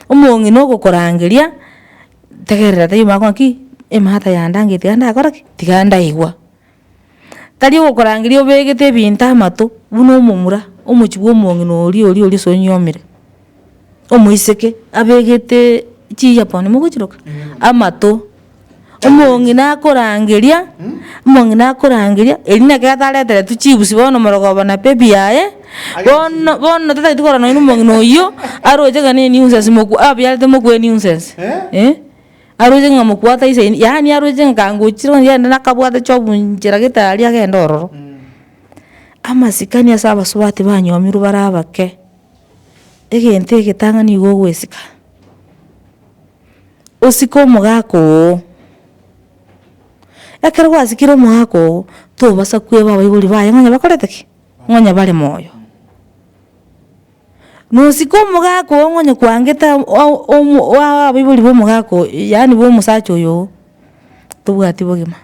Omong'ina ogokorangeria, tegerera taiyo omanye ng'aki, emata yande angeitigara ndakora ki? Tiga ndaigwa. tari ogokorangeria obegete ebinto amato buna omomura, omochi bwa omong'ina oria oria oria sonyiomire, omoiseke abegeteee chi earphone mogochiroka amato, omong'ina akorangeria omong'ina akorangeria erio naki atareteretu chibusi bono omorogoba na baby yaye, bono bono totagete korora nonye na omong'ina oyio aroche gane nuisance moku abiarete mokuwe nuisance eh. Aroche ng'a mokwata isaini, yaani aroche nka ngochire ongende nakabwate chobunchera gete aria agende ororo. Amasikani ase abasubati banyomirwe bare abake, egento egetang'ani nigo ogwesika, osike omogaka oo, ekero gwasikire omogaka oo, tobasa kweba abaibori baye ng'a onye bakorete ki? Ng'a onye bare moyo. Nosike omogaka oo ng'onye kwangete ab- o- omo- oa- abaibori b'omogaka oyo yaani bw'omosacha oyo oo, tobwati bogima.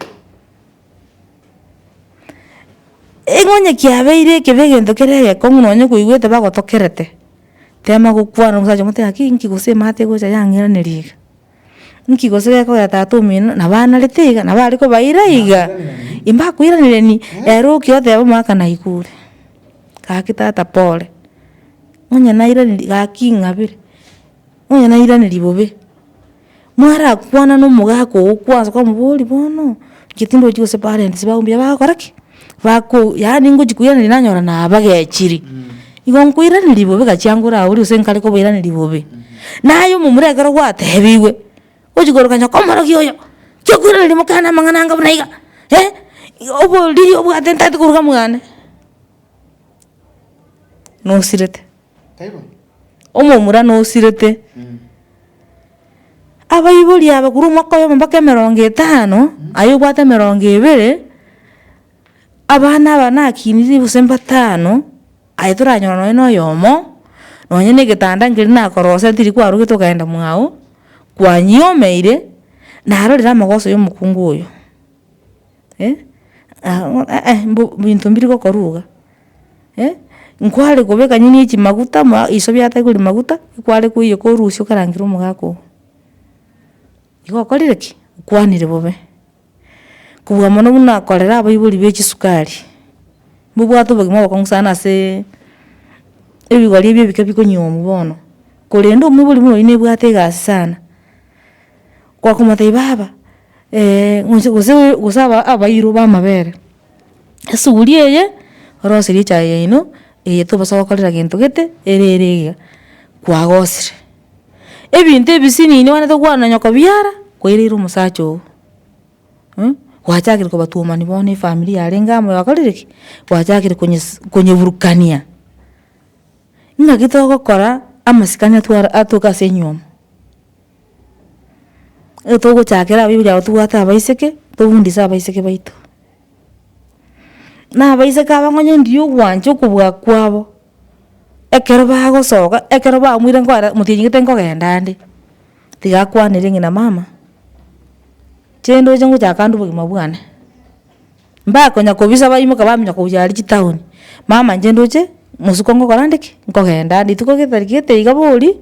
Eng'onye kiabeire ekebe egento kere egekong'u nonye kwaigwete bagotokerete, tema gokwana omosacha omote gaki inki gose emate egocha yang'iraneria iga. Nki gose gekogera tata omino nabo anarete iga nabo are kobaira iga, imbakoiranereria ere okia oteba omwaka naikure, gaki tata pore, onye nairaneria gaki ing'abire, onye nairaneria bobe, mwarakwana na omogaka oo kwanza kwamobori bono, inche tindochi gose parents bago mbuya bagokora ki. bako yaani ngochia koiraneria nanyora nabagechiri, igo nkoiraneria bobe gachiangore agwo rirorio gose nkare kobairaneria bobe, naye omomura ekero gwatebigwe, ochi koroka nyoka omorokia oyo, tiga koiraneria mokana amang'ana anga buna iga, oboriri obwate ntagete koruga mwane, nosirete. Omomura nosirete, abaibori aba korwa omwaka oyomo mpaka emerongo etano, aye obwate emerongo ebere, abana aba nakinirie gose mbatano, aye toranyora nonya na oyomo, nonya na egetanda nkeri nakorosete tiri kwarogete okagenda mwago, kwanyomeire, narorire amagoso ya omokungu oyo. eh, aang'o eh mbu binto mbiri gokorwa iga, eh, nkware kobeka nonya ne chimaguta ma iso biatari kori maguta, ekware koiyeka korusia okarangera omogaka oo. Igo okorire ki? Okwanire bobe. Kobua mono buna korera abaibori be chisukari, mbobwate obogima obokong'u sana asee ebigori ebi ebike bikonyiomwa bono, korende omoibori buna oyi nebwate egasi sana. Gwakomotebia baba ng'ochi gose gose aba abairu b'amabere, esuguri eye oroserie echaye yaino eye tobosa gokorera gento gete ere ere iga, kwagosire. Ebinto ebisiniini obwanete kwananya kobiara kwaireire omosacha oo gwachakire kobatuomani bono efamiri yarenge amo yakorire ki, gwachakire konyes konyeburukania. Ng'aki togokora amasikani atwara atoke ase enyiomo. Nigo togochakera abaibori abo tobwate abaiseke, tobundise abaiseke baito. Na abaiseke aba nonya ndiyo ogwancha okobua kwabo, ekero bagosoka, ekero bamoire nkoera motinyegete nkogenda ande, tiga akwanere ng'ina mama, chende oche ngochaka ande obogima bwane. Mbakonya kobisa baimoke bamenye kobuya aria chitaoni, mama inche ndoche mosuko ngokora ande ki, nkogenda ande rituko getari gete iga boria,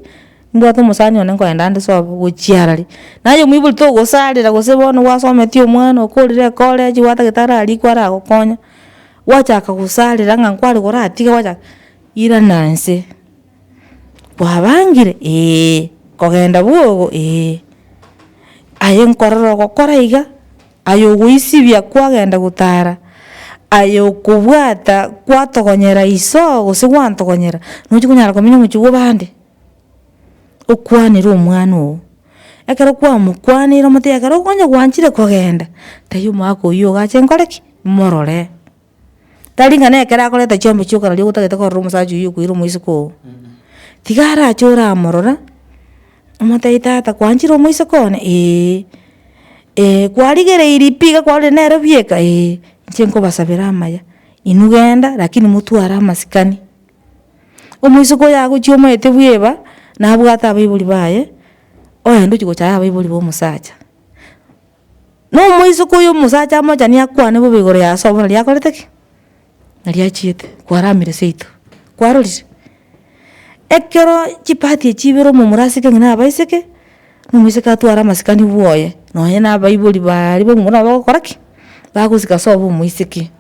mbwate omosani one nkoenda ande sobo gochia arari. Naye omwibori togosarera gose bono gwasometie omwana okorire ecollege gwa daktari arikwe aragokonya, gwachaka gosarera ng'a nkware goratiga gwachaka, irana inse, kwabangire eeh, kogenda bwogo eeh, aye nkorora ogokora iga, aye ogoisibia kwagenda gotara, aye okobwata kwatogonyera iso gose gwantogonyera, nochi konyara komenya omochie bw'abande, okwanere omwana oo, ekero kwamokwanire omotebi ekero okonya gwanchire kogenda, taiyo omwaka oyio ogache nkore ki? Morore. Tari ng'a nekero akoreta chiombe chia okarari ogotagete korora omosacha oyio okoira omoiseke oo. Tiga arache oramorora, omotebi tata kwanchire omoiseke one, eeh, eeh kwarigereiri pi iga kwarorire nere bieka, eeh, inche nkobasabera amaya, inwe genda lakini motware amasikani. Omoiseke oyo agochia omoete bweba, nabwate abaibori baye, oende ochia gocha abaibori ba omosacha. Nomoiseke oyo omosacha amochani akwane bobe igoro yase obo nari akorete ki? Nari achiete kwaramire seito, kwarorire? Ekero chipati echio ibere omomura aseke ng'a na abaiseke, na omoiseke atware amasikani bwoye, nonye na abaibori baria ba omomura nabo bagokora ki? Bagosika ase obo omoiseke.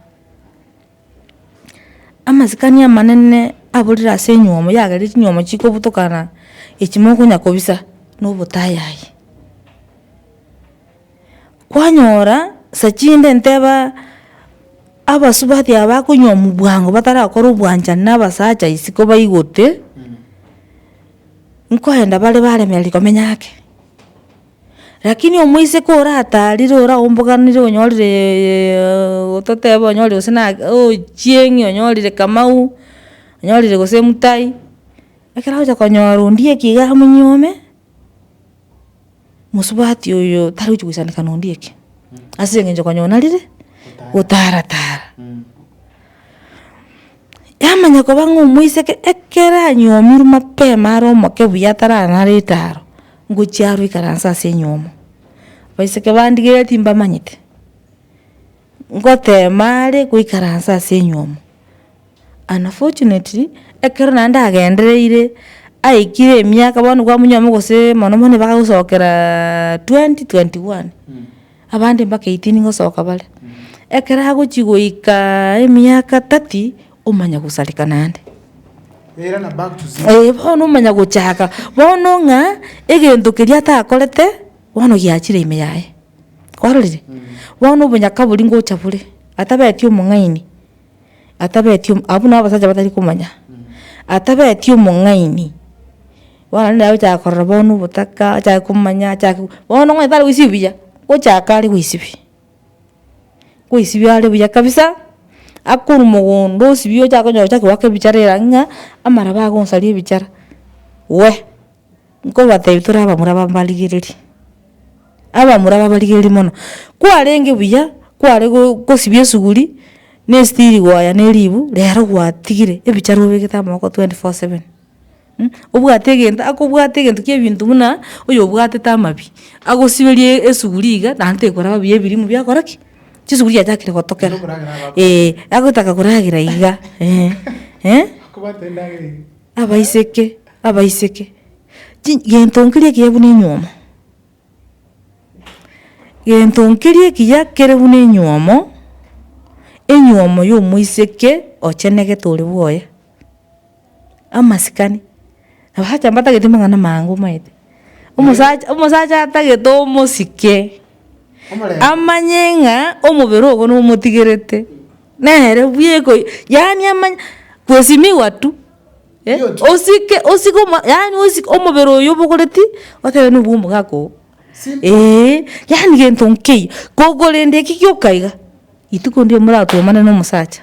Amasikani amanene aborire ase enyiomo yagereire chinyiomo chikobutokana echi mokonya kobisa na obotayayi. Kwanyora saa chinde nteba abasubati aba bakonywa omobwango batarakora obwanchani na abasacha isiko baigote, nkoenda bare baremera rikomenya ake. Rakini omoiseke orataarire oraomboganire onyorire gototeba onyorire gose na ochieng'i onyorire kamau, onyorire gose mutai, ekero agocha konyora ondiye eki iga amonyiome, mosubati oyo tari gochi goisanika na ondiye eki, ase eng'encho konya ona rire gotara tara. Yamanya koba ng'a omoiseke ekero anyomirwe mapema are omoke buya ataranare etaro, ngochia aro ikaranse ase enyomo, abaiseke bandigeria timbamanyete, ngotema are goikaransa ase enyomo, unfortunately, ekero naende agendereire, aikire emiaka bono kwa munyomo gose mono mono bagagosokeraa twenty twenty one, abande mpaka eighteen gosoka bare, ekero agochia goikaaa emiaka thirty, Omanya gosareka naende. Eira na back to zero. Ee bono omanya gochaka bono ng'a egento keria atakorete bono giachire ime yaye kwarorire bono obonyaka boria ngocha bore atabeti omong'aini atabeti omo abwo nabo abasacha batari komanya atabeti omong'aini bono naye ochaka korora bono obotaka achake komanya achake bono ng'o etare goisibia gochaka are goisibia. Kwaisibia are buya kabisa, akorwa mogondo osibie ochake onye ochaki goaka ebichara era ng'a amaraba agonsaria ebichara, we, nkobatebi tore abamura ba mbarigereria, abamura ba mbarigereria mono, kwarenge buya, kware go gosibia esuguri, na esitiri goya na eribu, rero gwatigire ebichara obegete amaboko twenty four seven. mh, obwate egento akobwate egento kia ebinto buna oyobwatete amabi, agosiberie esuguri iga naende tekoraba buya ebirimo biakora ki? Chisuguri chiachakire gotokera. Eeh, agotaka koragera iga eeh, eh? Abaiseke abaiseke, chi gento nkeria ekiya buna enywomo, gento nkeria ekiya kere buna enywomo, enywomo ya omoiseke ochenegete ore bwoye. amasikani, abasacha mbatagete amang'ana amange omanyete, omosacha omosacha atagete omosike, amanye ng'a omobere ogo nomotigerete, nere buya ekoi yaani amanye kwesimiwa tu, eh osike osike omo yaani osike omobere oyo obogoreti, otebe nigo bwa omogaka oo, eeh, yaani gento nkeyio, gokorenda ekio gioka iga, rituko ndirimo moratwomane na omosacha.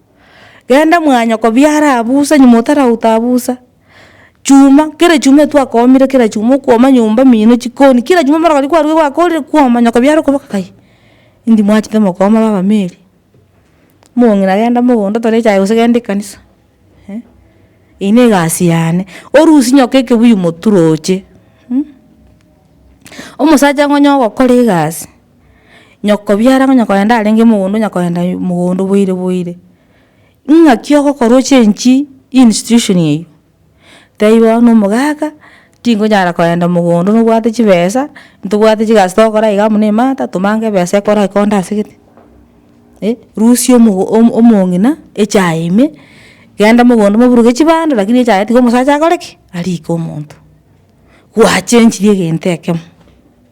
Genda mwanyoko biara aa busa nyuma otarauta busa. Chuma kera echuma etwakomire kera chuma okwoma nyomba mino chikoni kera chuma mara kwaruga kwakorire kwoma nyoko biara okoba kakai indi mwachete mokoma baba meri mong'ina genda mogondo tore echae gose genda ekanisa eh eyio ne egasi yane orusie nyoko ekebuyu motu roche omosacha ng'o onye ogokora egasi. Nyokobiara ng'a nyakorenda arenge mogondo nyakorenda mogondo boire boire. Ng'aki ogokora ochengi institution eywo. Tebia bono na omogaka tingonyara korenda mogondo nobwate chibesa, ntobwate chigasi togokora iga amo na emata tomange ebesa ekora ekonda ase gete. Eh rusia omogo omong'ina echaye ime, genda mogondo moburuke chibando lakini echaye tiga omosacha akore ki? Arike omonto. Gwachengirie egento ekemo.